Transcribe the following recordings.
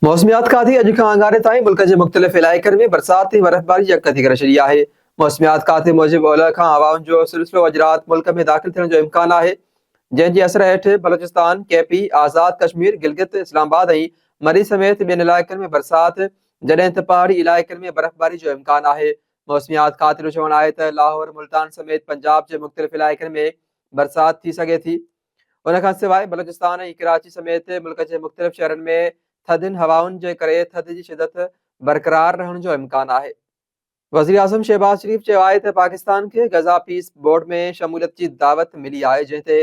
موسميات کاتي اڄ کان اڱاري تائين ملڪ جي مختلف علائقن ۾ برسات ۽ برفباري يڪ ٿي ڪري ڇڏي آهي. موسميات کاتي موجب اولهه کان هوائن جو سلسلو اڄ رات ملڪ ۾ داخل ٿيڻ جو امڪان آهي، جنهن جي اثر هيٺ بلوچستان، ڪي پي، آزاد ڪشمير، گلگت، اسلام آباد ۽ مري سميت ٻين علائقن ۾ برسات جڏهن ته پهاڙي علائقن ۾ برفباري جو امڪان آهي. موسميات کاتي جو چوڻ آهي ته لاهور، ملتان سميت پنجاب جي مختلف علائقن ۾ برسات ٿي سگهي ٿي. ان کان سواء بلوچستان ۽ ڪراچي سميت ملڪ جي مختلف شهرن ۾ ٿڌين هوائن جي ڪري ٿڌ جي شدت برقرار رهڻ جو امڪان آهي. وزيراعظم شهباز شريف چيو آهي ته پاڪستان کي غزا پيس بورڊ ۾ شموليت جي دعوت ملي آهي جنهن تي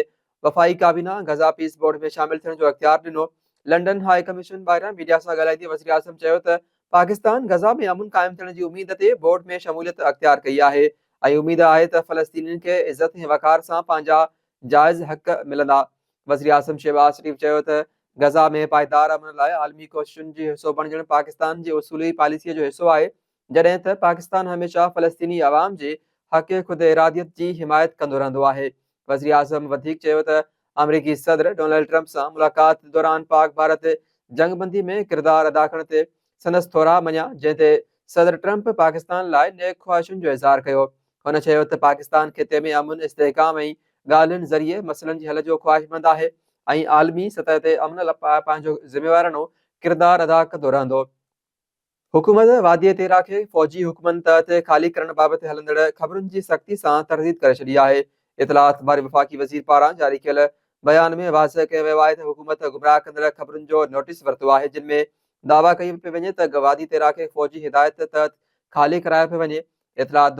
وفاقي ڪابينا غزا پيس بورڊ ۾ شامل ٿيڻ جو اختيار ڏنو. لنڊن هاء ڪميشن ٻاهران ميڊيا سان ڳالهائيندي وزيراعظم چيو ته پاڪستان غزا ۾ امن قائم ٿيڻ جي اميد تي بورڊ ۾ شموليت اختيار ڪئي آهي ۽ اميد آهي ته فلسطينين کي عزت ۽ وقار سان پنهنجا جائز حق ملندا. وزيراعظم شهباز شريف چيو ته غزه ۾ پائيدار امن لاء عالمي ڪوششن جو حصو بڻجڻ پاڪستان جي اصولي پاليسيء جو حصو آهي، جڏهن ته پاڪستان هميشه فلسطيني عوام جي حق خوداراديت جي حمايت ڪندو رهندو آهي. وزيراعظم وڌيڪ چيو ته آمريڪي صدر ڊونلڊ ٽرمپ سان ملاقات دوران پاڪ ڀارت جنگ بندي ۾ ڪردار ادا ڪرڻ تي سندس ٿورا مڃيا، جنهن تي صدر ٽرمپ پاڪستان لاء نيڪ خواهشن جو اظهار ڪيو. هن چيو ته پاڪستان خطي ۾ امن، استحڪام ۽ ڳالهين ذريعي مسئلن جي حل جو خواهشمند آهي ۽ عالمي سطح تي امن لاء پنهنجو ذميوارڻو ڪردار ادا ڪندو رهندو. حڪومت وادي تيرا کي فوجي حڪمن تحت خالي ڪرڻ بابت هلندڙ خبرن جي سختي سان ترديد ڪري ڇڏي آهي. اطلاعات واري وفاقي وزير پاران جاري ڪيل بيان ۾ واضح ڪيو ويو آهي ته حڪومت گمراهه ڪندڙ خبرن جو نوٽيس ورتو آهي جن ۾ دعويٰ ڪئي پئي وڃي ته وادي تيرا کي فوجي هدايت تحت خالي ڪرايو پيو وڃي اطلاعات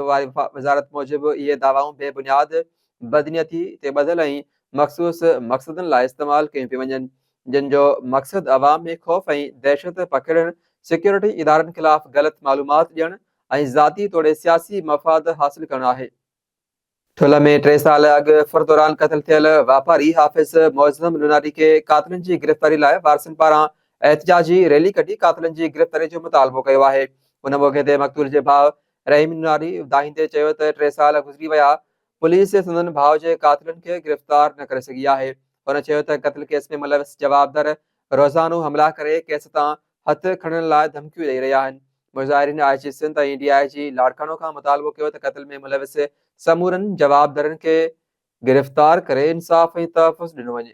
وزارت موجب اهي دعوائون بي بنياد، بدنيتي تي ٻڌل ۽ مخصوص مقصدن لاء استعمال ڪيون پيون وڃن، جن جو مقصد عوام ۾ خوف ۽ دهشت پکيڙڻ، سيڪيورٽي ادارن خلاف غلط معلومات ڏيڻ ۽ ذاتي توڙي سياسي مفاد حاصل ڪرڻ آهي. ٺلهه ۾ ٽي سال اڳ ڦر دوران قتل ٿيل واپاري حافظ معظم لوناري کي قاتلن جي گرفتاري لاء وارثن پاران احتجاجي ريلي ڪڍي قاتلن جي گرفتاري جو مطالبو ڪيو آهي ان موقعي تي مقتول جي ڀاء رحيم لوناري دانهيندي چيو ته ٽي سال گذري ويا پوليس سندن ڀاء جي قاتلن کي گرفتار نه ڪري سگهي آهي هن چيو ته قتل ڪيس ۾ ملوث جوابدار روزانو حملا ڪري ڪيس تان هٿ کڻڻ لاء ڌمڪيون ڏئي رهيا آهن. مظاهرين آء جي سنڌ ۽ ڊي آء جي لاڙڪاڻو کان مطالبو ڪيو ته قتل ۾ ملوث سمورن جوابدارن کي گرفتار ڪري انصاف ۽ تحفظ ڏنو وڃي.